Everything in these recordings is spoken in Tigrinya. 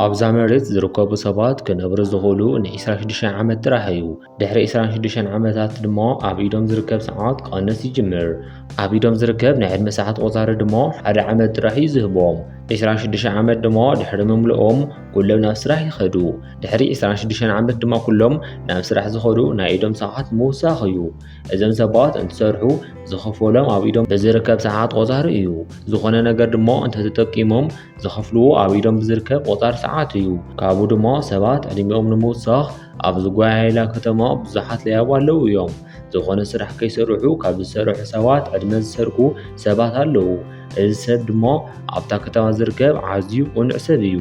ኣብዛ መሬት ዝርከቡ ሰባት ክነብሩ ዝኽእሉ ን26 ዓመት ጥራሕ እዩ። ድሕሪ 26 ዓመታት ድማ ኣብ ኢዶም ዝርከብ ሰዓት ክቐንስ ይጅምር። ኣብ ኢዶም ዝርከብ ናይ ዕድመ ሰዓት ቆፃሪ ድማ ሓደ ዓመት ጥራሕ እዩ ዝህቦም። 26 ዓመት ድማ ድሕሪ ምምልኦም ኩሎም ናብ ስራሕ ይኸዱ። ድሕሪ 26 ዓመት ድማ ኩሎም ናብ ስራሕ ዝኸዱ ናይ ኢዶም ሰዓት ምውሳኽ እዩ። እዘም ሰባት እንትሰርሑ ዝኸፈሎም ኣብ ኢዶም ብዝርከብ ሰዓት ቆፃሪ እዩ። ዝኾነ ነገር ድማ እንተተጠቂሞም ዝኸፍልዎ ኣብ ኢዶም ብዝርከብ ቆፃሪ ሰዓት እዩ። ካብኡ ድማ ሰባት ዕድሚኦም ንምውሳኽ ኣብ ዝጓያየላ ከተማ ብዙሓት ለያቡ ኣለዉ እዮም። ዝኾነ ስራሕ ከይሰርሑ ካብ ዝሰርሑ ሰባት ዕድመ ዝሰርቁ ሰባት ኣለዉ። እዚ ሰብ ድማ ኣብታ ከተማ ዝርከብ ዓዝዩ ቁኑዕ ሰብ እዩ።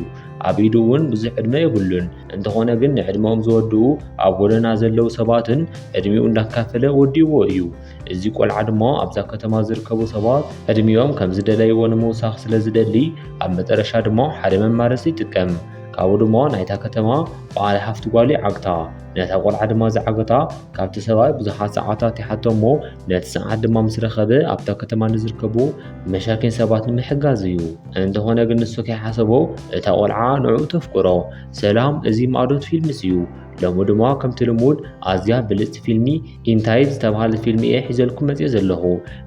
ኣብ ኢዱ እውን ብዙሕ ዕድመ የብሉን። እንተኾነ ግን ንዕድመኦም ዝወድኡ ኣብ ጎደና ዘለዉ ሰባትን ዕድሚኡ እንዳካፈለ ወዲእዎ እዩ። እዚ ቆልዓ ድማ ኣብዛ ከተማ ዝርከቡ ሰባት ዕድሚኦም ከም ዝደለይዎ ንምውሳኽ ስለ ዝደሊ ኣብ መጠረሻ ድማ ሓደ መማረፂ ይጥቀም። ካብኡ ድማ ናይታ ከተማ በዓል ሓፍቲ ጓሉ ይዓግታ። ነታ ቆልዓ ድማ ዝዓገታ ካብቲ ሰብኣይ ብዙሓት ሰዓታት ይሓቶ እሞ ነቲ ሰዓት ድማ ምስ ረኸበ ኣብታ ከተማ ንዝርከቡ መሻኪን ሰባት ንምሕጋዝ እዩ። እንተኾነ ግን ንሱ ከይሓሰቦ እታ ቆልዓ ንዕኡ ተፍቅሮ። ሰላም እዚ ማእዶት ፊልምስ እዩ። ሎሚ ድማ ከምቲ ልሙድ ኣዝያ ብልጽቲ ፊልሚ ኢንታይት ዝተባሃለ ፊልሚ እየ ሒዘልኩም መጽዮ ዘለኹ።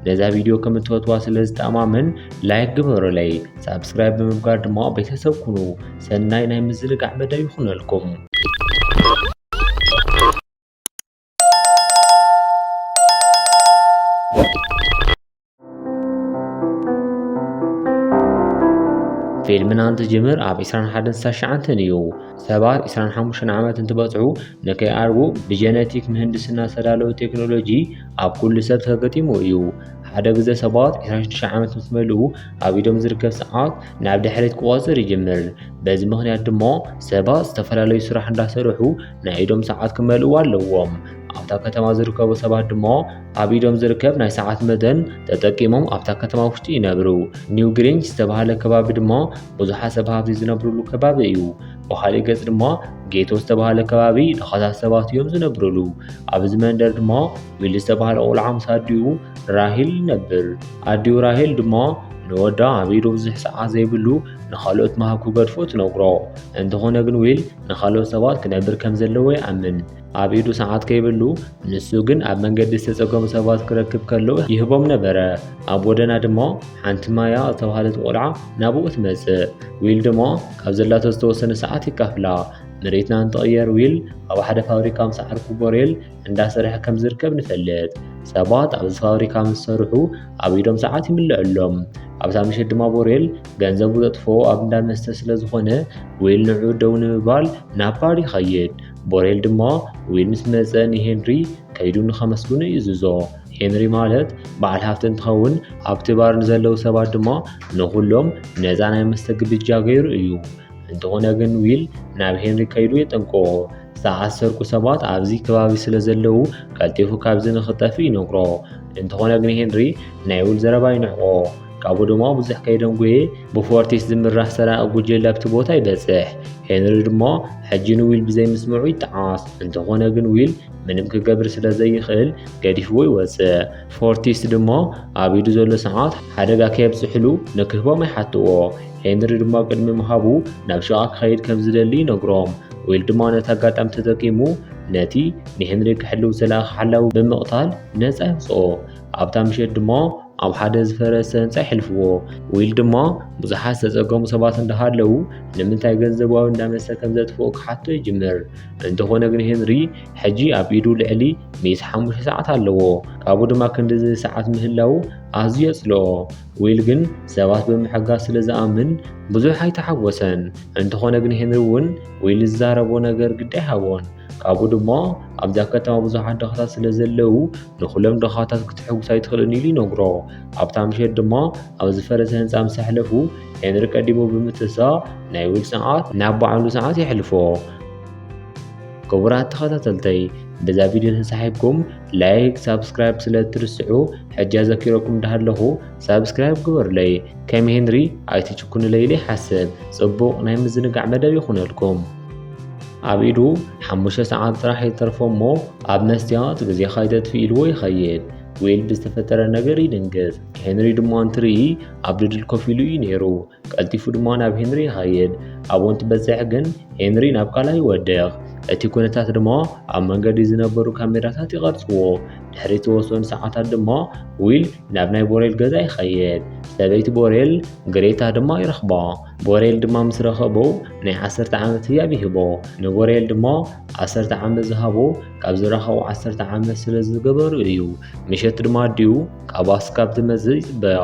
ነዛ ቪድዮ ከም እትፈትዋ ስለ ዝተኣማመን ላይክ ግበሩለይ፣ ሳብስክራይብ ብምግባር ድማ ቤተሰብ ኩኑ። ሰናይ ናይ ምዝንጋዕ መደብ ይኹነልኩም። ፊልምና እንትጅምር ኣብ 21 ሳሽዓንትን እዩ ሰባት 25 ዓመት እንትበፅዑ ንከይኣርጉ ብጀነቲክ ምህንድስና ዝተዳለወ ቴክኖሎጂ ኣብ ኩሉ ሰብ ተገጢሙ እዩ ሓደ ግዘ ሰባት 26 ዓመት ምስ መልኡ ኣብ ኢዶም ዝርከብ ሰዓት ናብ ድሕሪት ክቆፅር ይጅምር በዚ ምክንያት ድማ ሰባት ዝተፈላለዩ ስራሕ እንዳሰርሑ ናይ ኢዶም ሰዓት ክመልእዎ ኣለዎም። ኣብታ ከተማ ዝርከቡ ሰባት ድማ ኣብ ኢዶም ዝርከብ ናይ ሰዓት መደን ተጠቂሞም ኣብታ ከተማ ውሽጢ ይነብሩ። ኒው ግሪንጅ ዝተባሃለ ከባቢ ድማ ብዙሓት ሰብ ሃብቲ ዝነብሩሉ ከባቢ እዩ። ብኻሊእ ገጽ ድማ ጌቶ ዝተባሃለ ከባቢ ድኻታት ሰባት እዮም ዝነብሩሉ። ኣብዚ መንደር ድማ ዊል ዝተባሃለ ቆልዓ ምስ ኣዲኡ ራሂል ይነብር። ኣዲኡ ራሂል ድማ ንወዳ ኣብ ኢዱ ብዙሕ ሰዓት ዘይብሉ ንኻልኦት ምሃብ ክገድፎ ትነግሮ። እንተኾነ ግን ዊል ንኻልኦት ሰባት ክነብር ከም ዘለዎ ይኣምን። ኣብ ኢዱ ሰዓት ከይብሉ፣ ንሱ ግን ኣብ መንገዲ ዝተጸገሙ ሰባት ክረክብ ከሎ ይህቦም ነበረ። ኣብ ጎደና ድማ ሓንቲ ማያ ዝተባህለት ቆልዓ ናብኡ ትመጽእ። ዊል ድማ ካብ ዘላቶ ዝተወሰነ ሰዓት ይካፍላ። መሬትና እንትቕየር ዊል ኣብ ሓደ ፋብሪካ ምስ ዓርኩ ቦሬል እንዳሰርሐ ከም ዝርከብ ንፈልጥ። ሰባት ኣብዚ ፋብሪካ ምስ ሰርሑ ኣብ ኢዶም ሰዓት ይምለዐሎም። ኣብታ ምሸት ድማ ቦሬል ገንዘቡ ዘጥፎ ኣብ እንዳ መስተ ስለ ዝኾነ ዊል ንዑ ደው ንምባል ናብ ባር ይኸይድ። ቦሬል ድማ ዊል ምስ መጸ ንሄንሪ ከይዱ ንኸመስግኑ ይእዝዞ። ሄንሪ ማለት በዓል ሃፍቲ እንትኸውን ኣብቲ ባር ንዘለዉ ሰባት ድማ ንኹሎም ነፃ ናይ መስተ ግብጃ ገይሩ እዩ። እንተኾነ ግን ዊል ናብ ሄንሪ ከይዱ የጠንቅቖ። ዝተኣሰርኩ ሰባት ኣብዚ ከባቢ ስለ ዘለዉ ቀልጢፉ ካብዚ ንኽጠፍ ይነግሮ። እንተኾነ ግን ሄንሪ ናይ ዊል ዘረባ ይንዕቆ። ካብኡ ድማ ብዙሕ ከይደንጎየ ብፎርቲስ ዝምራሕ ሰራቂ ጉጀለ ኣብቲ ቦታ ይበጽሕ። ሄንሪ ድማ ሕጂ ንዊል ብዘይምስምዑ ይጠዓስ። እንተኾነ ግን ዊል ምንም ክገብር ስለ ዘይኽእል ገዲፍዎ ይወጽእ። ፎርቲስ ድማ ኣብ ኢዱ ዘሎ ሰዓት ሓደጋ ከየብጽሕሉ ንክህቦም ይሓትዎ። ሄንሪ ድማ ቅድሚ ምሃቡ ናብ ሸቓ ክኸይድ ከም ዝደሊ ይነግሮም። ዊል ድማ ነቲ ኣጋጣሚ ተጠቂሙ ነቲ ንሄንሪ ክሕልው ዝለኣኸ ሓላዊ ብምቕታል ነጻ የውጽኦ። ኣብታ ምሸት ድማ ኣብ ሓደ ዝፈረሰ ህንጻ ይሕልፍዎ። ዊል ድማ ብዙሓት ዝተጸገሙ ሰባት እንዳሃለዉ ንምንታይ ገንዘባዊ እንዳመስተ ከም ዘጥፍኡ ክሓቶ ይጅምር። እንተኾነ ግን ሄንሪ ሕጂ ኣብ ኢዱ ልዕሊ ሚእቲ ሓሙሽተ ሰዓት ኣለዎ። ካብኡ ድማ ክንድዚ ሰዓት ምህላዉ ኣዝዩ የጽልኦ። ዊል ግን ሰባት ብምሕጋዝ ስለ ዝኣምን ብዙሕ ኣይተሓጎሰን። እንተኾነ ግን ሄንሪ እውን ዊል ዝዛረቦ ነገር ግዲ ኣይሃቦን። ካብኡ ድማ ኣብዛ ከተማ ብዙሓት ድኻታት ስለ ዘለው ንኹሎም ድኻታት ክትሕጉስ ኣይትኽእልን ኢሉ ይነግሮ። ኣብታ ምሸት ድማ ኣብ ዝፈረሰ ህንፃ ምስ ኣሕለፉ ሄንሪ ቀዲሙ ብምትሳእ ናይ ዊል ሰዓት ናብ ባዕሉ ሰዓት የሕልፎ። ክቡራት ተኸታተልተይ በዛ ቪድዮ ተሳሒብኩም ላይክ ሳብስክራይብ ስለ እትርስዑ ሕጂ ኣዘኪረኩም እንዳሃለኹ ሳብስክራይብ ግበሩለይ ከም ሄንሪ ኣይትጭኩኑለይ ኢለ ይሓስብ ጽቡቕ ናይ ምዝንጋዕ መደብ ይኹነልኩም ኣብ ኢዱ ሓሙሽተ ሰዓት ጥራሕ ይተርፎ እሞ ኣብ መስትያት ግዜኻ ይተጥፊ ኢልዎ ይኸይድ ዊል ብዝተፈጠረ ነገር ይድንግጽ ሄንሪ ድማ እንትርኢ ኣብ ድድል ኮፍ ኢሉ እዩ ነይሩ ቀልጢፉ ድማ ናብ ሄንሪ ይኸይድ። ኣብኡ እንትበጽሕ ግን ሄንሪ ናብ ካልኣይ ይወድቕ። እቲ ኩነታት ድማ ኣብ መንገዲ ዝነበሩ ካሜራታት ይቐርጽዎ። ድሕሪ ዝተወሰኑ ሰዓታት ድማ ዊል ናብ ናይ ቦሬል ገዛ ይኸይድ። ሰበይቲ ቦሬል ግሬታ ድማ ይረኽባ። ቦሬል ድማ ምስ ረኸቦ ናይ ዓሰርተ ዓመት ህያብ ይህቦ። ንቦሬል ድማ ዓሰርተ ዓመት ዝሃቦ ካብ ዝረኸቡ ዓሰርተ ዓመት ስለ ዝገበሩ እዩ። ምሸት ድማ ኣዲኡ ካብ ኣስካብ ትመጽእ ይጽበያ።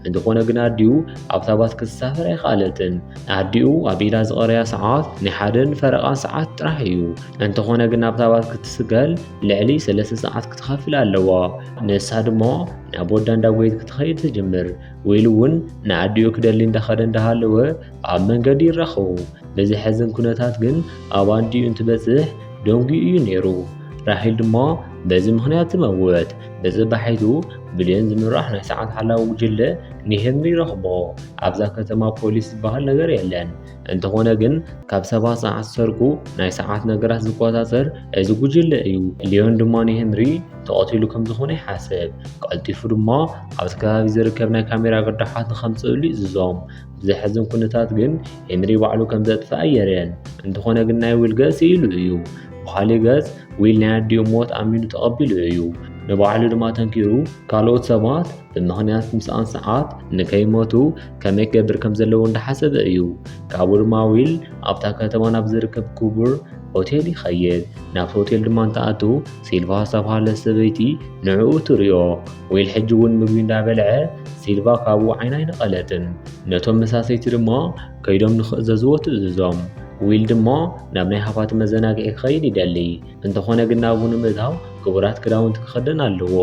እንተኾነ ግን ኣዲኡ ኣብታ ባስ ክትሳፈር ኣይከኣለትን። ንኣዲኡ ኣብ ኢዳ ዝቐረያ ሰዓት ናይ ሓደን ፈረቓን ሰዓት ጥራሕ እዩ። እንተኾነ ግን ኣብታ ባስ ክትስገል ልዕሊ ሰለስተ ሰዓት ክትኸፍል ኣለዋ። ንሳ ድማ ናብ ወዳ እንዳጎየት ክትኸይድ ትጅምር። ወይሉ እውን ንኣዲኡ ክደሊ እንዳኸደ እንዳሃለወ ኣብ መንገዲ ይራኸቡ። ብዘሕዝን ኩነታት ግን ኣብ ኣዲኡ እንትበጽሕ ደንጉዩ እዩ ነይሩ። ራሂል ድማ በዚ ምኽንያት ዝመውት ብፅባሒቱ ብልዮን ዝምራሕ ናይ ሰዓት ሓላዊ ጉጅለ ንሄንሪ ረኽቦ ኣብዛ ከተማ ፖሊስ ዝበሃል ነገር የለን። እንተኾነ ግን ካብ ሰባት ሰዓት ዝሰርቁ ናይ ሰዓት ነገራት ዝቆፃፀር እዚ ጉጅለ እዩ። ልዮን ድማ ንሄንሪ ተቐቲሉ ከም ዝኾነ ይሓስብ። ቀልጢፉ ድማ ኣብዚ ከባቢ ዝርከብ ናይ ካሜራ ግርዳሓት ንከምፅእሉ ይእዝዞም። ብዘሕዝን ኩነታት ግን ሄንሪ ባዕሉ ከም ዘጥፍኣ የርየን። እንተኾነ ግን ናይ ውልገ ስኢሉ እዩ። ብኻሊእ ገፅ ዊል ናይ ኣዲኡ ሞት ኣሚኑ ተቐቢሉ እዩ። ንባዕሉ ድማ ተንኪሩ ካልኦት ሰባት ብምኽንያት ምስኣን ሰዓት ንከይሞቱ ከመይ ክገብር ከም ዘለዎ እንዳሓሰበ እዩ። ካብኡ ድማ ዊል ኣብታ ከተማ ናብ ዝርከብ ክቡር ሆቴል ይኸይድ ናብቲ ሆቴል ድማ እንተኣቱ ሲልቫ ዝተባሃለ ሰበይቲ ንዕኡ ትርዮ ዊል ሕጂ እውን ምግቢ እንዳበልዐ ሲልቫ ካብኡ ዓይና ኣይነቐለትን ነቶም መሳሰይቲ ድማ ከይዶም ንኽእዘዝዎ ትእዝዞም። ዊል ድማ ናብ ናይ ሃፋቲ መዘናግዒ ክኸይድ ይደሊ። እንተኾነ ግን ናብኡ ንምእታው ክቡራት ክዳውንቲ ክኸደን ኣለዎ።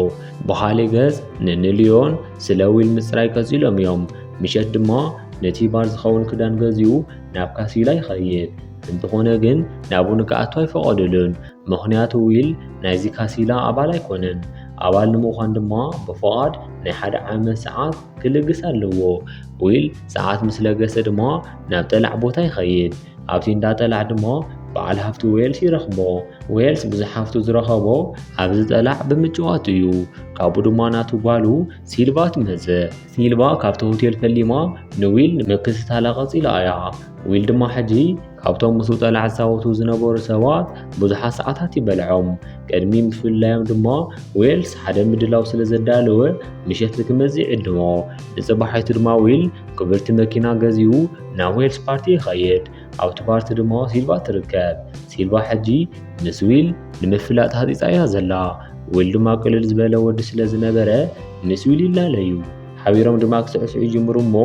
በሃሊ ገጽ ንንልዮን ስለ ዊል ምጽራይ ቀጺሎም እዮም። ምሸት ድማ ነቲ ባር ዝኸውን ክዳን ገዚኡ ናብ ካሲላ ይኸይድ። እንተኾነ ግን ናብኡ ንክኣቱ ኣይፈቐዱሉን። ምኽንያቱ ዊል ናይዚ ካሲላ ኣባል ኣይኮነን። ኣባል ንምዃን ድማ ብፍቓድ ናይ ሓደ ዓመት ሰዓት ክልግስ ኣለዎ ዊል ሰዓት ምስ ለገሰ ድማ ናብ ጠላዕ ቦታ ይኸይድ ኣብቲ እንዳ ጠላዕ ድማ በዓል ሃፍቲ ዌልስ ይረኽቦ ዌልስ ብዙሕ ሃፍቱ ዝረኸቦ ኣብዚ ጠላዕ ብምጭዋት እዩ ካብኡ ድማ ናቱ ጓሉ ሲልቫ ትመጽእ ሲልቫ ካብቲ ሆቴል ፈሊማ ንዊል ንምክትታላ ቀጺላ እያ ዊል ድማ ሕጂ ካብቶም ምስ ጠላዕ ዝጻወቱ ዝነበሩ ሰባት ብዙሓት ሰዓታት ይበልዖም። ቅድሚ ምፍልላዮም ድማ ዌልስ ሓደ ምድላው ስለ ዘዳለወ ምሸት ክመጽእ ይዕድሞ። ንጽባሒቱ ድማ ዊል ክብርቲ መኪና ገዚኡ ናብ ዌልስ ፓርቲ ይኸይድ። ኣብቲ ፓርቲ ድማ ሲልቫ ትርከብ። ሲልቫ ሕጂ ምስ ዊል ንምፍላጥ ሃጢጻ እያ ዘላ። ዊል ድማ ቅልል ዝበለ ወዲ ስለ ዝነበረ ምስ ዊል ይላለዩ። ሓቢሮም ድማ ክስዕስዑ ይጅምሩ እሞ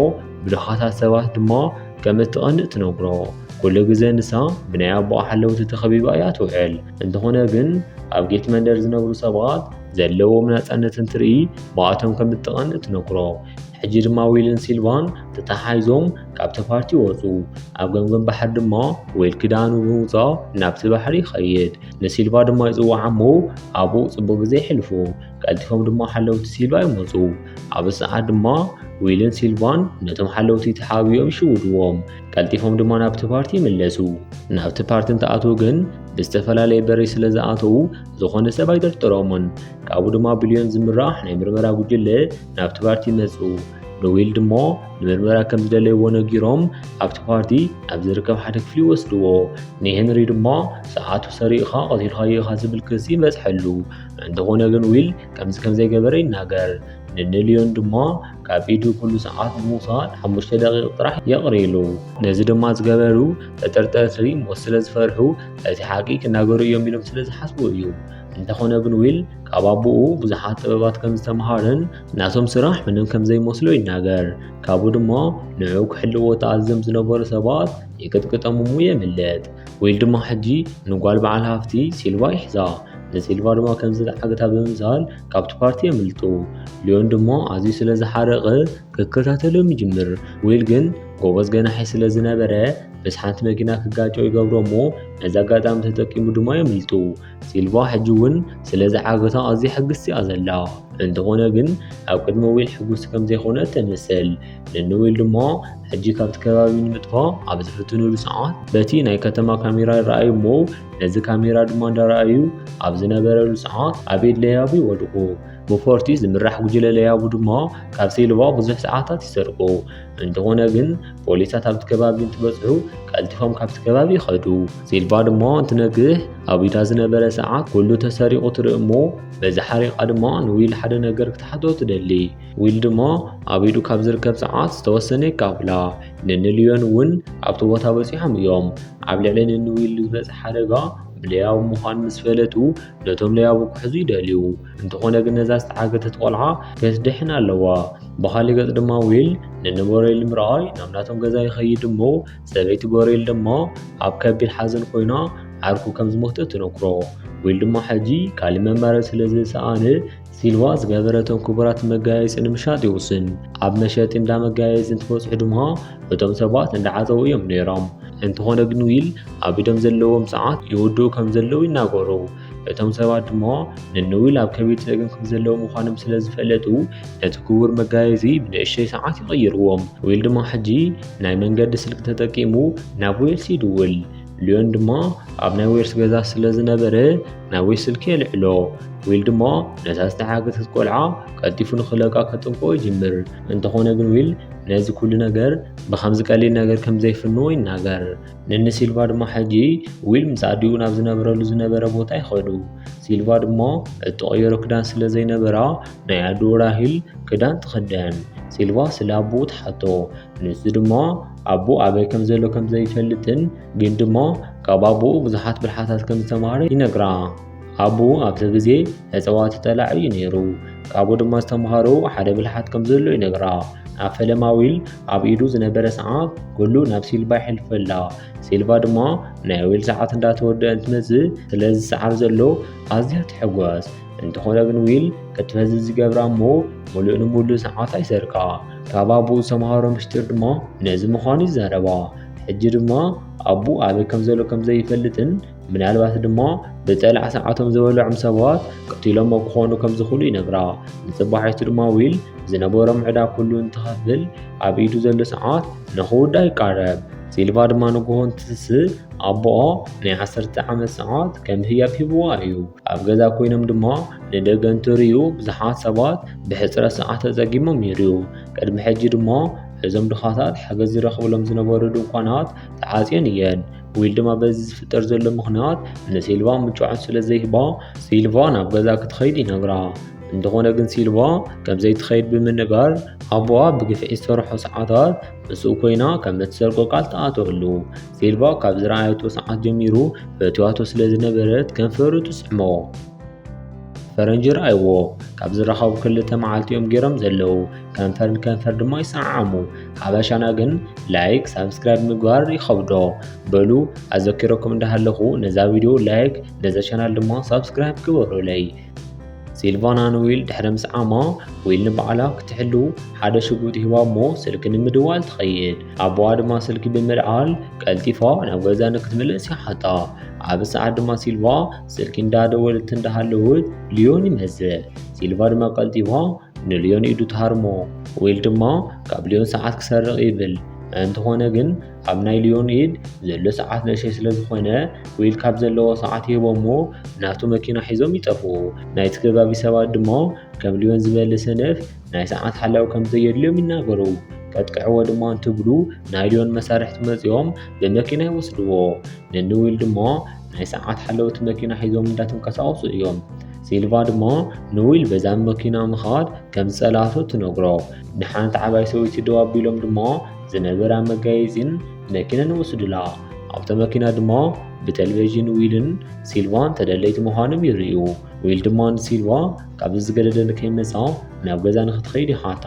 ብዙሓታት ሰባት ድማ ከም እትቐንእ ትነግሮ። ኩሉ ግዜ ንሳ ብናይ ኣቦኣ ሓለውቲ ተኸቢባ እያ ትውዕል። እንተኾነ ግን ኣብ ጌት መንደር ዝነብሩ ሰባት ዘለዎም ናጻነት እንትርኢ ብኣቶም ከም እትቐንእ ትነግሮ። ሕጂ ድማ ዊልን ሲልቫን ተተሓሒዞም ካብቲ ፓርቲ ወጹ። ኣብ ገምገም ባሕሪ ድማ ዊል ክዳኑ ብምውጻእ ናብቲ ባሕሪ ይኸይድ። ንሲልቫ ድማ ይጽውዓ እሞ ኣብኡ ጽቡቕ ግዜ የሕልፉ። ቀልጢፎም ድማ ሓለውቲ ሲልቫ ይመፁ ኣብ ሰዓት ድማ ዊልን ሲልቫን ነቶም ሓለውቲ ተሓቢኦም ይሽውድዎም ቀልጢፎም ድማ ናብቲ ፓርቲ ይምለሱ ናብቲ ፓርቲ እንትኣትዉ ግን ብዝተፈላለየ በሪ ስለ ዝኣተዉ ዝኾነ ሰብ ኣይጠርጥሮምን ካብኡ ድማ ብልዮን ዝምራሕ ናይ ምርመራ ጉጅለ ናብቲ ፓርቲ ይመፁ ንዊል ድማ ንምርመራ ከም ዝደለይዎ ነጊሮም ኣብቲ ፓርቲ ኣብ ዝርከብ ሓደ ክፍሊ ይወስድዎ ንሄንሪ ድማ ሰዓቱ ሰሪቕኻ ቀቲልካዮ ኢኻ ዝብል ክሲ ይበፅሐሉ እንተኾነ ግን ዊል ከምዚ ከም ዘይገበረ ይናገር። ንንልዮን ድማ ካብ ኢዱ ኩሉ ሰዓት ንምውሳድ ሓሙሽተ ደቂቕ ጥራሕ የቕርይሉ። ነዚ ድማ ዝገበሩ ተጠርጠርቲ ሞት ስለ ዝፈርሑ እቲ ሓቂ ክናገሩ እዮም ኢሎም ስለ ዝሓስቡ እዩ። እንተኾነ ግን ዊል ካብ ኣቦኡ ብዙሓት ጥበባት ከም ዝተምሃረን ናቶም ስራሕ ምንም ከም ዘይመስሎ ይናገር። ካብኡ ድማ ንዑ ክሕልዎ ተኣዝዞም ዝነበሩ ሰባት ይቅጥቅጦም እሙ የምልጥ። ዊል ድማ ሕጂ ንጓል በዓል ሃፍቲ ሲልቫ ይሕዛ። ንሲልቫ ድማ ከምዚ ዝዓግታ ብምምሳል ካብቲ ፓርቲ የምልጡ። ሊዮን ድማ ኣዝዩ ስለ ዝሓረቐ ክከታተሎም ይጅምር። ዊል ግን ጎበዝ ገናሒ ስለ ዝነበረ ምስ ሓንቲ መኪና ክጋጮ ይገብሮ እሞ ነዚ ኣጋጣሚ ተጠቂሙ ድማ የምልጡ ሲልቫ ሕጂ እውን ስለ ዝዓገታ ኣዝያ ሕግስቲ እያ ዘላ እንተኾነ ግን ኣብ ቅድሚ ዊል ሕጉስቲ ከም ዘይኮነ ተምስል ንንዊል ድማ ሕጂ ካብቲ ከባቢ ንምጥፋእ ኣብ ዝፍትኑሉ ሰዓት በቲ ናይ ከተማ ካሜራ ይረኣዩ እሞ ነዚ ካሜራ ድማ እንዳረኣዩ ኣብ ዝነበረሉ ሰዓት ኣቤድ ለያቡ ይወድቑ። ብፎርቲ ዝምራሕ ጉጅለ ለያቡ ድማ ካብ ሴልቫ ብዙሕ ሰዓታት ይሰርቁ። እንተኾነ ግን ፖሊሳት ኣብቲ ከባቢ እንትበፅሑ ቀልጢፎም ካብቲ ከባቢ ይኸዱ። ሴልቫ ድማ እንትነግህ ኣብ ኢዳ ዝነበረ ሰዓት ኩሉ ተሰሪቑ ትርኢ እሞ በዚ ሓሪቓ ድማ ንዊል ሓደ ነገር ክትሓቶ ትደሊ። ዊል ድማ ኣብ ኢዱ ካብ ዝርከብ ጸዓት ዝተወሰነ ይካፍላ ንንልዮን እውን ኣብቲ ቦታ በጺሖም እዮም ኣብ ልዕሊ ንንዊል ዝበጽ ሓደጋ ብለያቡ ምዃን ምስ ፈለጡ ነቶም ለያቡ ክሕዙ ይደልዩ እንተኾነ ግን ነዛ ዝተዓገተት ቆልዓ ከትድሕን ኣለዋ ብኻሊ ገጽ ድማ ዊል ንንቦሬል ምርኣይ ናብ ናቶም ገዛ ይኸይድ እሞ ሰበይቲ ቦሬል ድማ ኣብ ከቢድ ሓዘን ኮይና ዓርኩ ከም ዝሞተ ትነግሮ ዊል ድማ ሕጂ ካልእ መማረፂ ስለ ዝሰኣነ ሲልቫ ዝገበረቶም ክቡራት መጋየፂ ንምሻጥ ይውስን ኣብ መሸጢ እንዳ መጋየፂ እንትበፅሑ ድማ እቶም ሰባት እንዳዓፀው እዮም ነይሮም እንተኾነ ግን ዊል ኣብ ኢዶም ዘለዎም ሰዓት ይውድኡ ከም ዘለዉ ይናገሩ እቶም ሰባት ድማ ንንዊል ኣብ ከቢድ ፀገም ከም ዘለዉ ምዃኖም ስለ ዝፈለጡ ነቲ ክቡር መጋየፂ ብንእሽተይ ሰዓት ይቕይርዎም ዊል ድማ ሕጂ ናይ መንገዲ ስልኪ ተጠቂሙ ናብ ዌልስ ይድውል ልዮን ድማ ኣብ ናይ ዌርስ ገዛ ስለ ዝነበረ ናብ ዌስ ስልኪ የልዕሎ ዊል ድማ ነታ ዝተሓገተት ቆልዓ ቀልጢፉ ንክለቃ ከጥንቆ ይጅምር እንተኾነ ግን ዊል ነዚ ኩሉ ነገር ብከምዚ ቀሊል ነገር ከም ዘይፍንዎ ይናገር ንኒ ሲልቫ ድማ ሕጂ ዊል ምስ ኣዲኡ ናብ ዝነብረሉ ዝነበረ ቦታ ይኸዱ ሲልቫ ድማ እተቐየሮ ክዳን ስለ ዘይነበራ ናይ ኣዲኡ ራሂል ክዳን ትኽደን ሲልቫ ስለ ኣቦኡ ትሓቶ ንሱ ድማ ኣቦኡ ኣበይ ከም ዘሎ ከም ዘይፈልጥን ግን ድማ ካብ ኣቦኡ ብዙሓት ብልሓታት ከም ዝተማሃረ ይነግራ። ኣቦኡ ኣብቲ ግዜ እጽዋት ጠላዕ እዩ ነይሩ። ካብኡ ድማ ዝተምሃሮ ሓደ ብልሓት ከም ዘሎ ይነግራ። ኣብ ፈለማ ዊል ኣብ ኢዱ ዝነበረ ሰዓት ኩሉ ናብ ሲልቫ ይሕልፈላ። ሲልቫ ድማ ናይ ዊል ሰዓት እንዳተወደአ እንትመጽእ ስለዚ ሰዓት ዘሎ ኣዝያ ትሕጎስ። እንተኾነ ግን ዊል ከቲ ነዚ ዝገብራ እሞ ሙሉእ ንሙሉእ ሰዓት ኣይሰርቃ ካብ ኣቦኡ ዝተምሃሮ ምስጢር ድማ ነዚ ምዃኑ ይዛረባ ሕጂ ድማ ኣቡ ኣበይ ከም ዘሎ ከም ዘይፈልጥን ምናልባት ድማ ብፀላዕ ሰዓቶም ዝበልዖም ሰባት ቀቲሎሞ ክኾኑ ከም ዝኽእሉ ይነግራ ንፅባሒቱ ድማ ዊል ዝነበሮም ዕዳ ኩሉ እንትኸፍል ኣብ ኢዱ ዘሎ ሰዓት ንኽውዳ ይቃረብ ሲልቫ ድማ ንግሆ እንትትስእ ኣቦኣ ናይ ዓሰርተ ዓመት ሰዓት ከም ህያብ ሂብዋ እዩ ኣብ ገዛ ኮይኖም ድማ ንደገ እንትርእዩ ብዙሓት ሰባት ብሕፅረት ሰዓት ተፀጊሞም ይርእዩ። ቅድሚ ሕጂ ድማ እዞም ድኻታት ሓገዝ ዝረኽብሎም ዝነበሩ ድንኳናት ተዓጽዮን እየን። ዊል ድማ በዚ ዝፍጠር ዘሎ ምኽንያት ንሲልቫ ምቾዖት ስለ ዘይህባ ሲልቫ ናብ ገዛ ክትኸይድ ይነግራ። እንተኾነ ግን ሲልቫ ከም ዘይትኸይድ ብምንጋር ኣቦኣ ብግፍዒ ዝሰርሖ ሰዓታት ምስኡ ኮይና ከም እትሰርቆ ቃል ትኣትወሉ። ሴልቫ ካብ ዝረኣየቶ ሰዓት ጀሚሩ ፈትዋቶ ስለ ዝነበረት ከንፈሩ ትስሕሞ ፈረንጂ ረኣይዎ ካብ ዝረኸቡ ክልተ መዓልቲ እዮም ገይሮም ዘለዉ ከንፈር ንከንፈር ድማ ይሰዓዓሙ ሓበሻና ግን ላይክ ሳብስክራይብ ምግባር ይኸብዶ በሉ ኣዘኪረኩም እንዳሃለኹ ነዛ ቪድዮ ላይክ ነዛ ቻናል ድማ ሳብስክራይብ ግበሩለይ ሲልቫና ንዊል ድሕሪ ምስዓማ ዊል ንባዕላ ክትሕሉ ሓደ ሽጉጥ ሂባ እሞ ስልኪ ንምድዋል ትኸይድ ኣቦዋ ድማ ስልኪ ብምልዓል ቀልጢፋ ናብ ገዛ ንክትምለስ ይሓታ ኣብ ሰዓት ድማ ሲልቫ ስልኪ እንዳደወለት እንዳሃለወት ልዮን ይመዝእ ሲልቫ ድማ ቀልጢፋ ንልዮን ኢዱ ትሃርሞ ዊል ድማ ካብ ልዮን ሰዓት ክሰርቕ ይብል እንተኾነ ግን ኣብ ናይ ሊዮኒድ ዘሎ ሰዓት ንእሸይ ስለ ዝኾነ ዊል ካብ ዘለዎ ሰዓት ይህቦሞ ናቱ መኪና ሒዞም ይጠፍኡ። ናይቲ ከባቢ ሰባት ድማ ከም ሊዮን ዝበለ ሰነፍ ናይ ሰዓት ሓላዊ ከም ዘየድልዮም ይናገሩ። ቀጥቅዕዎ ድማ እንትብሉ ናይ ሊዮን መሳርሕቲ መጺኦም ብመኪና ይወስድዎ። ነኒ ዊል ድማ ናይ ሰዓት ሓለውቲ መኪና ሒዞም እንዳተንቀሳቐሱ እዮም። ሲልቫ ድማ ንዊል በዛ መኪና ምኻድ ከም ዝጸላእቶ ትነግሮ። ንሓንቲ ዓባይ ሰበይቲ ደው ኣቢሎም ድማ ዝነበራ መጋየጺን መኪናን ወስዱላ። ኣብታ መኪና ድማ ብተለቪዥን ዊልን ሲልቫን ተደለይቲ ምዃኖም ይርእዩ። ዊል ድማ ንሲልቫ ካብዚ ዝገደደ ንከይመጻ ናብ ገዛ ንክትኸይድ ይሓታ።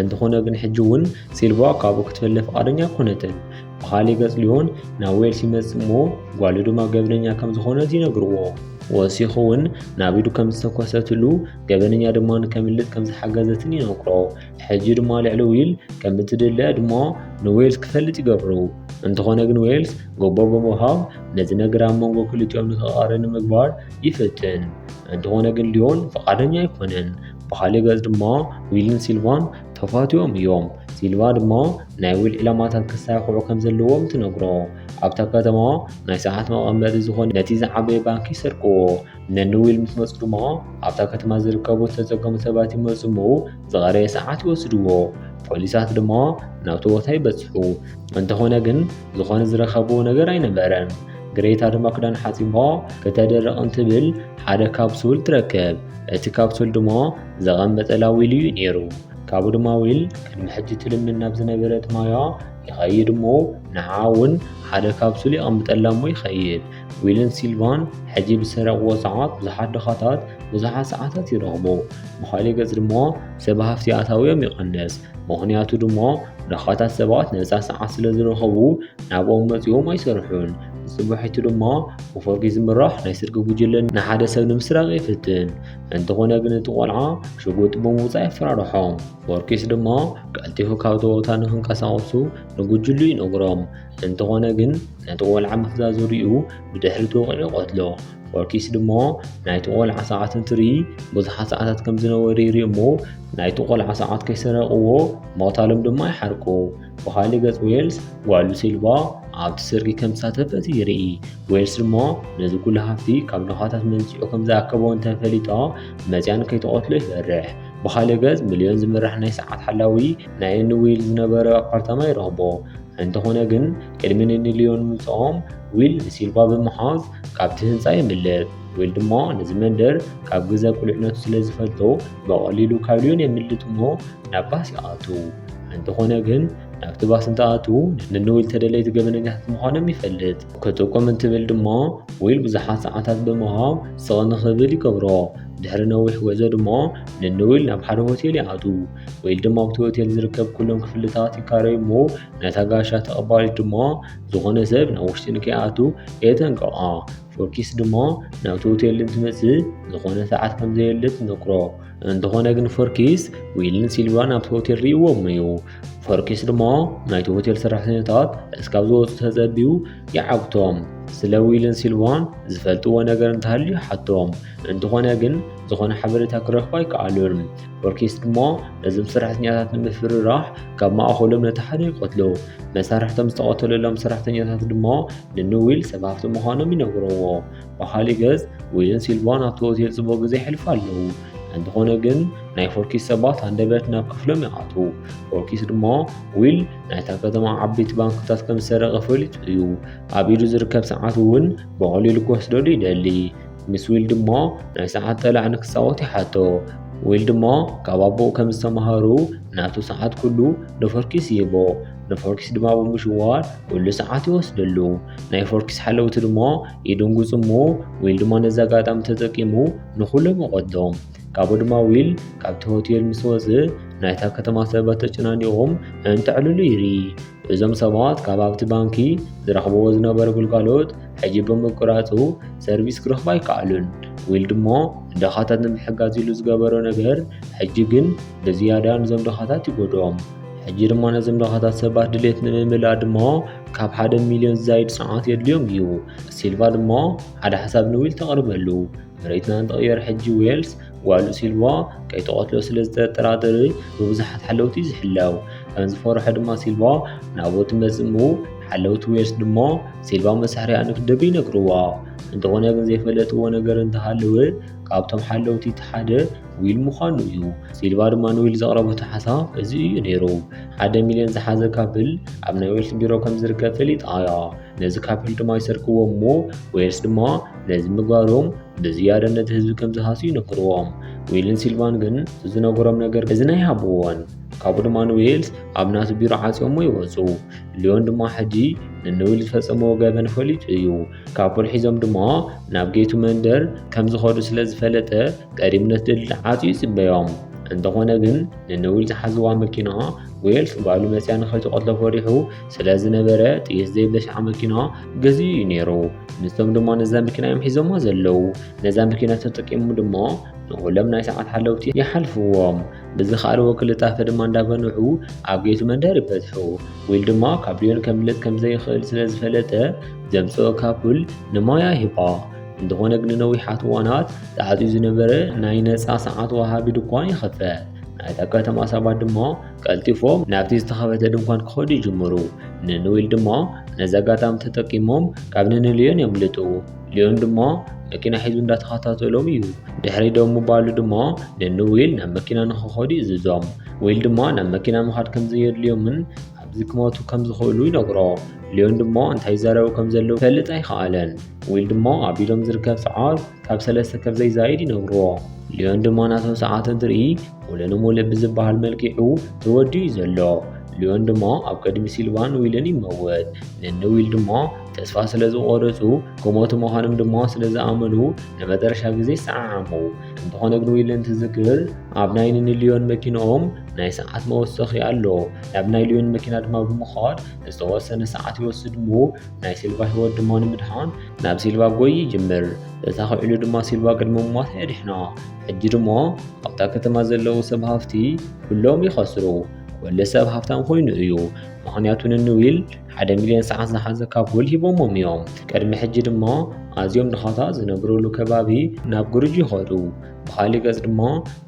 እንተኾነ ግን ሕጂ እውን ሲልቫ ካብኡ ክትፈለ ፍቓደኛ ኮነትን። ብኻሊእ ገጽ ሊዮን ናብ ዌል ሲመጽ እሞ ጓሉ ድማ ገበነኛ ከም ዝኾነት ይነግርዎ። ወሲኹ እውን ናብ ኢዱ ከም ዝተኮሰትሉ ገበነኛ ድማ ንከምልጥ ከም ዝሓገዘትን ይነግሮ። ሕጂ ድማ ልዕሊ ዊል ከም እትድለ ዕድሞ ንዌልስ ክፈልጥ ይገብሩ እንተኾነ ግን ዌልስ ጎቦ ብምሃብ ነዚ ነገር ኣብ መንጎ ክልቲኦም ንክቐሪ ንምግባር ይፍትን እንተኾነ ግን ሊዮን ፈቓደኛ ኣይኮነን ብካሊእ ገጽ ድማ ዊልን ሲልቫን ተፋትዮም እዮም ሲልቫ ድማ ናይ ዊል ዕላማታት ክሳይክዑ ከም ዘለዎም ትነግሮ ኣብታ ከተማ ናይ ሰዓት መቐመጢ ዝኾነ ነቲ ዝዓበየ ባንኪ ይሰርቅዎ ነንዊል ምስ መጹ ድማ ኣብታ ከተማ ዝርከቡ ዝተጸገሙ ሰባት ይመጹ እሞ ዝቐረየ ሰዓት ይወስድዎ። ፖሊሳት ድማ ናብቲ ቦታ ይበጽሑ። እንተኾነ ግን ዝኾነ ዝረኸብዎ ነገር ኣይነበረን። ግሬታ ድማ ክዳን ሓጺባ ከተደርቕ እንትብል ሓደ ካፕሱል ትረክብ። እቲ ካፕሱል ድማ ዘቐመጠላ ዊል እዩ ነይሩ። ካብኡ ድማ ዊል ቅድሚ ሕጂ ትልምን ናብ ዝነበረት ማያ ይኸይድ እሞ ንዓ እውን ሓደ ካፕሱል የቐምጠላ እሞ ይኸይድ። ዊልን ሲልቫን ሕጂ ብዝሰረቕዎ ሰዓት ብዙሓት ድኻታት ብዙሓት ሰዓታት ይረኽቡ፣ ብኻሊእ ገጽ ድማ ሰብ ሃፍቲ ኣታዊኦም ይቐንስ። ምኽንያቱ ድማ ድኻታት ሰባት ነጻ ሰዓት ስለ ዝረኸቡ ናብኦም መጺኦም ኣይሰርሑን። ንጽባሒቱ ድማ ብፎርጊ ዝምራሕ ናይ ስርቂ ጉጅለ ንሓደ ሰብ ንምስራቕ ይፍትን። እንተኾነ ግን እቲ ቆልዓ ሽጉጥ ብምውጻእ የፈራርሖም። ፎርኪስ ድማ ቀልጢፉ ካብቲ ቦታ ንኽንቀሳቐሱ ንጉጅሉ ይነግሮም። እንተኾነ ግን ነቲ ቆልዓ ምፍዛዙ ሪኡ ብድሕሪ ተወቂዑ ቀትሎ ወርኪስ ድማ ናይቲ ቆልዓ ሰዓት እንትርኢ ብዙሓት ሰዓታት ከም ዝነበሩ ይርኢ እሞ ናይቲ ቆልዓ ሰዓት ከይሰረቕዎ ምቕታሎም ድማ ይሓርቁ ብኻሊእ ገጽ ዌልስ ጓሉ ሲልቫ ኣብቲ ስርቂ ከም ተሳተፈት ይርኢ ዌልስ ድማ ነዚ ኩሉ ሃፍቲ ካብ ድኻታት መንስዑ ከም ዝኣከቦ እንተፈሊጣ መፅያን ከይተቐትሎ ይፈርሕ ብኻሊእ ገጽ ሚልዮን ዝምራሕ ናይ ሰዓት ሓላዊ ናይ እኒ ዊል ዝነበረ ኣፓርታማ ይረኽቦ። እንተኾነ ግን ቅድሚ ንኒ ሊዮን ምምጽኦም ዊል ንሲልቫ ብምሓዝ ካብቲ ህንጻ የምልጥ። ዊል ድማ ነዚ መንደር ካብ ግዘ ቁልዕነቱ ስለ ዝፈልጦ ብቐሊሉ ካብ ሊዮን የምልጥ እሞ ናብ ባስ ይኣትው። እንተኾነ ግን ናብቲ ባስ እንተኣትዉ ንኒ ዊል ተደለይቲ ገበነኛታት ምዃኖም ይፈልጥ። ክጥቁም እንትብል ድማ ዊል ብዙሓት ሰዓታት ብምሃብ ስቕ ንኽብል ይገብሮ። ድሕሪ ነዊሕ ጉዕዞ ድማ ንኒ ዊል ናብ ሓደ ሆቴል ይኣትው። ወይ ድማ ኣብቲ ሆቴል ዝርከብ ኩሎም ክፍልታት ይካረዩ እሞ ነታ ጋሻ ተቐባሊ ድማ ዝኾነ ሰብ ናብ ውሽጢ ንከይኣቱ የጠንቅቓ ፎኪስ ድማ ናብቲ ሆቴል እንትመፅእ ዝኾነ ሰዓት ከም ዘየለ ትነግሮ እንተኾነ ግን ፎርኪስ ዊልን ሲልቫን ኣብቲ ሆቴል ርእዎም እዩ ፎርኪስ ድማ ናይቲ ሆቴል ሰራሕተኛታት እስካብ ዝወፁ ተፀቢዩ ይዓግቶም ስለ ዊልን ሲልቫን ዝፈልጥዎ ነገር እንተሃልዩ ሓቶም እንተኾነ ግን ዝኾነ ሓበሬታ ክረኽቡ ኣይከኣሉን ኦርኬስ ድማ ነዞም ሰራሕተኛታት ንምፍርራሕ ካብ ማእኸሎም ነቲ ሓደ ይቐትሎ መሳርሕቶም ዝተቐተለሎም ሰራሕተኛታት ድማ ንንዊል ሰብ ሃፍቲ ምዃኖም ይነግረዎ ብኻሊእ ገዝ ዊልን ሲልቫን ኣብቲ ሆቴል ፅቡቕ ግዜ ይሕልፉ ኣለዉ እንተኾነ ግን ናይ ፎርኪስ ሰባት ኣንደበት ናብ ክፍሎም ይኣትዉ ፎርኪስ ድማ ዊል ናይታ ከተማ ዓበይቲ ባንክታት ከም ዝሰረቐ ፈሊጡ እዩ ኣብ ኢዱ ዝርከብ ሰዓት እውን ብቐሊሉ ክወስደሉ ይደሊ ምስ ዊልድ እሞ ናይ ሰዓት ጠላዕ ንክፃወት ይሓቶ ዊልድ እሞ ካብ ኣቦኡ ከም ዝተምሃሩ ናቱ ሰዓት ኩሉ ንፎርኪስ ይህቦ ንፎርኪስ ድማ ብምሽዋር ኩሉ ሰዓት ይወስደሉ ናይ ፎርኪስ ሓለውቲ ድማ ይድንጉፁ እሞ ዊል ድማ ነዚ ኣጋጣሚ ተጠቂሙ ንኩሎም ይቐትሎም ካብኡ ድማ ዊል ካብቲ ሆቴል ምስ ወፅእ ናይታ ከተማ ሰባት ተጨናኒቖም እንተዕልሉ ይርኢ እዞም ሰባት ካብ ኣብቲ ባንኪ ዝረኽብዎ ዝነበረ ግልጋሎት ሕጂ ብምቁራጹ ሰርቪስ ክረኽቡ ኣይከኣሉን። ዊልድ እሞ ንደኻታት ንምሕጋዝ ኢሉ ዝገበሮ ነገር ሕጂ ግን ብዝያዳ ንዞም ደኻታት ይጎድኦም። ሕጂ ድማ ነዞም ድኻታት ሰባት ድሌት ንምምላእ ድማ ካብ ሓደ ሚልዮን ዝዛይድ ጽንዓት የድልዮም እዩ። ሲልቫ ድማ ሓደ ሓሳብ ንዊል ተቕርበሉ። መሬትና እንተቐየረ ሕጂ ዌልስ ጓሉ ሲልቫ ከይተቐትሎ ስለ ዝተጠራጠረ ብብዙሓት ሓለውቲ ዝሕለው ከም ዝፈርሖ ድማ ሲልቫ ናብኡ ትመጽእ እሞ ሓለውቲ ዌልስ ድማ ሲልቫ መሳሕርያ ንክደብ ይነግርዋ እንተኾነ ግን ዘይፈለጥዎ ነገር እንተሃለወ ካብቶም ሓለውቲ እቲ ሓደ ዊል ምዃኑ እዩ ሲልቫ ድማ ንዊል ዘቕረበቶ ሓሳብ እዚ እዩ ነይሩ ሓደ ሚልዮን ዝሓዘ ካብል ኣብ ናይ ዌልስ ቢሮ ከም ዝርከብ ፈሊጣ እያ ነዚ ካፒል ድማ ይሰርክዎ እሞ ወይስ ድማ ነዚ ምግባሮም ብዝያደ ነቲ ህዝቢ ከም ዝሃሱ ይነግርዎም ዊልን ሲልቫን ግን ዝነገሮም ነገር እዚ ናይ ሃብዎን ካብኡ ድማ ንዌልስ ኣብ ናቱ ቢሮ ዓፅዮሞ ይወፁ ሊዮን ድማ ሕጂ ንንዊል ዝፈፀመዎ ገበን ፈሊጡ እዩ ካፑል ሒዞም ድማ ናብ ጌቱ መንደር ከም ዝኸዱ ስለ ዝፈለጠ ቀዲሙ ነቲ ድልድል ዓፅዩ ይፅበዮም እንተኾነ ግን ንንዊል ዝሓዝዋ መኪና ዌልስ ጓሉ መፅያ ንኸይትቐትሎ ፈሪሑ ስለዝነበረ ጥይት ዘይብለሻዓ መኪና ገዚኡ እዩ ነይሩ። ንሶም ድማ ነዛ መኪና እዮም ሒዞሞ ዘለዉ። ነዛ መኪና ተጠቂሙ ድማ ንኹሎም ናይ ሰዓት ሓለውቲ ይሓልፍዎም። ብዝኸኣልዎ ክልጣፈ ድማ እንዳበንሑ ኣብ ጌቱ መንደር ይበጽሑ። ዊል ድማ ካብ ሊዮን ከምልጥ ከም ዘይኽእል ስለ ዝፈለጠ ዘምጽኦ ካፑል ንማያ ሂባ። እንተኾነ ግን ንነዊሓት እዋናት ተዓጽዩ ዝነበረ ናይ ነጻ ሰዓት ወሃቢ ድኳን ይኸፈት። ናይታ ከተማ ሰባት ድማ ቀልጢፎም ናብቲ ዝተኸፈተ ድንኳን ክኸዱ ይጅምሩ። ንንዊል ድማ ነዚ ኣጋጣሚ ተጠቂሞም ካብ ንንልዮን የምልጡ። ልዮን ድማ መኪና ሒዙ እንዳተኸታተሎም እዩ። ድሕሪ ደው ምባሉ ድማ ንንዊል ናብ መኪና ንክኸዱ ይእዝዞም። ዊል ድማ ናብ መኪና ምኻድ ከም ዘየድልዮምን ኣብዚ ክመቱ ከም ዝኽእሉ ይነግሮ። ልዮን ድማ እንታይ ይዛረቡ ከም ዘለዉ ፈልጥ ኣይከኣለን። ዊል ድማ ኣብ ኢዶም ዝርከብ ሰዓት ካብ ሰለስተ ከም ዘይዛይድ ይነግርዎ። ልዮን ድማ ናቶም ሰዓት እንትርኢ ሙሉንሙሉእ ብዝበሃል መልኪዑ ተወዲኡ እዩ ዘሎ። ሊዮን ድማ ኣብ ቅድሚ ሲልቫን ዊልን ይመወት። ነኒ ዊል ድማ ተስፋ ስለ ዝቖረጹ ክሞቱ ምዃኖም ድማ ስለ ዝኣመኑ ንመጨረሻ ግዜ ይሰዓዓሙ። እንተኾነ ግን ዊል እንትዝክር ኣብ ናይ ነኒ ሊዮን መኪንኦም ናይ ሰዓት መወሰኺ ኣሎ። ናብ ናይ ሊዮን መኪና ድማ ብምዃድ ዝተወሰነ ሰዓት ይወስድ እሞ ናይ ሲልቫ ህይወት ድማ ንምድሓን ናብ ሲልቫ ጎይ ይጅምር። ተሳኺዕሉ ድማ ሲልቫ ቅድሚ ምሟታ የድሕና። ሕጂ ድሞ ኣብታ ከተማ ዘለዉ ሰብ ሃፍቲ ኩሎም ይኸስሩ ወለ ሰብ ሃፍታም ኮይኑ እዩ ምክንያቱ ንንዊል ሓደ ሚልዮን ሰዓት ዝሓዘ ካፑል ሂቦሞም እዮም ቅድሚ ሕጂ ድማ ኣዝዮም ድኻታ ዝነብርሉ ከባቢ ናብ ግርጅ ይኸዱ ብኻሊእ ገጽ ድማ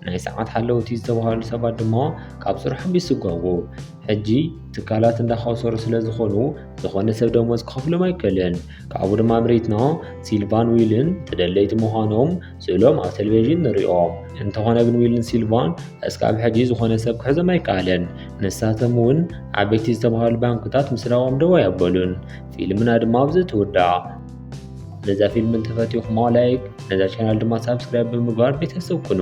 ናይ ሰዓት ሓለውቲ ዝተባሃሉ ሰባት ድማ ካብ ስርሖም ይስጓጉ ሕጂ ትካላት እንዳኸሰሩ ስለ ዝኾኑ ዝኾነ ሰብ ደሞዝ ክኸፍሎም ኣይከልን ካብኡ ድማ ምሪትና ሲልቫን ዊልን ተደለይቲ ምዃኖም ስእሎም ኣብ ቴሌቪዥን ንሪኦ እንተኾነ ግን ዊልን ሲልቫን እስካብ ሕጂ ዝኾነ ሰብ ክሕዞም ኣይከኣለን። ንሳቶም እውን ዓበይቲ ዝተባሃሉ ባንክታት ምስራቆም ደው ኣየበሉን። ፊልምና ድማ ኣብዚ ትውዳእ። ነዛ ፊልም እንተፈቲኹማ ላይክ፣ ነዛ ቻናል ድማ ሳብስክራይብ ብምግባር ቤተሰብ ኩኑ።